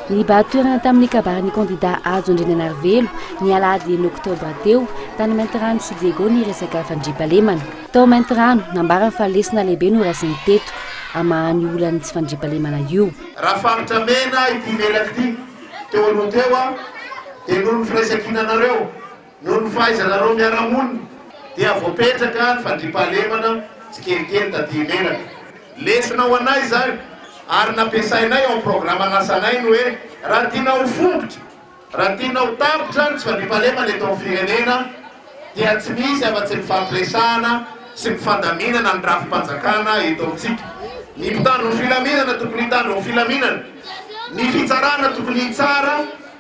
Nibahan-toerana tamin'ny kabarin'ny kandidà Hajo Andriananarivelo, ny alahady enina oktobra teo, tany Maintirano sy Diego ny resaka fandriampahalemana. Tao Maintirano, nambarany fa lesona lehibe no raisiny teto, hamahan'io olan'ny tsy fandriampahalemana io. Raha faritra mena ity menaka ity, teo aloha teo dia noho ny firaisankinanareo. Noho ny fahaizanareo miara-monina dia voapetraka ny fandriampahalemana tsikelikely taty Imeraka. Lesona ho anay izany ary nampiasainay ao amin'ny programan'asanay ny hoe raha tiana ho fombitra, raha tiana ho tapitra ny tsy fandriampahalemana eto amin'ny firenena dia tsy misy afa-tsy mifampiresahana sy mifandaminana ny rafi-panjakana eto amintsika. Ny mpitandro ny filaminana tokony hitandro ny filaminana, ny fitsarana tokony hitsara,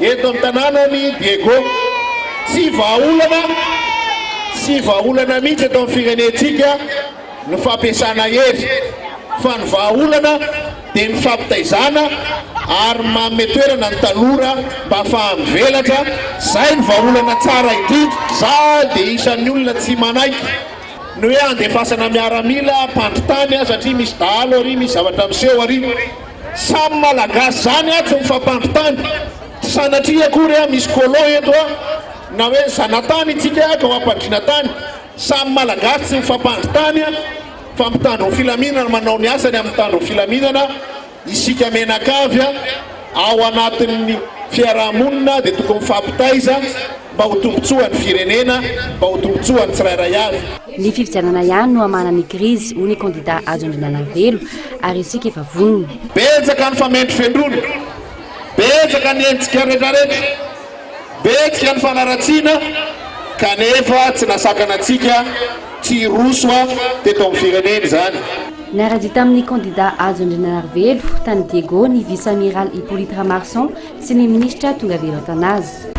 Eto amin'ny tanànan'i Diego, tsy vahaolana, tsy vahaolana mihitsy eto amin'ny firenentsika ny fampiasana hery, fa ny vahaolana dia ny fampitaizana ary ny manome toerana ny tanora mba faha-mivelatra, izay no vahaolana tsara indrindra. Izaho dia isan'ny olona tsy manaiky ny hoe handefasana miaramila hampandry tany aho satria misy dahalo ary misy zavatra miseho ary. Samy malagasy zany atsy ny fampandrotany, tsy sanatria akory a misy colon eto a, na hoe zanatany itsika ka ho ampandriana tany, samy malagasy tsy mifampandrotany a, fa mpitandro ny filaminana manao ny asany amin'ny mpitandro ny filaminana, isika menakavy a ao anatin'ny fiaraha-monina dia tokony mifampitaiza, Mba ho tombontsoan'ny firenena, mba ho tombontsoan'ny tsirairay avy. Ny fifidianana ihany no hamahana ny krizy, hoy ny kandida Hajo Andriananavelo, ary isika efa vonona. Betsaka ny famendrofendrona, betsaka ny hetsika retraretra, betsika ny fanaratsiana, kanefa tsy nasakana antsika tsy hiroso teto amin'ny firenena izany. Niara-dia tamin'ny kandida Hajo Andriananarivelo, tany Diego, ny Vice-Amiral Hyppolite Ramarson, Tsy ny minisitra tonga avy eran-tanà aza.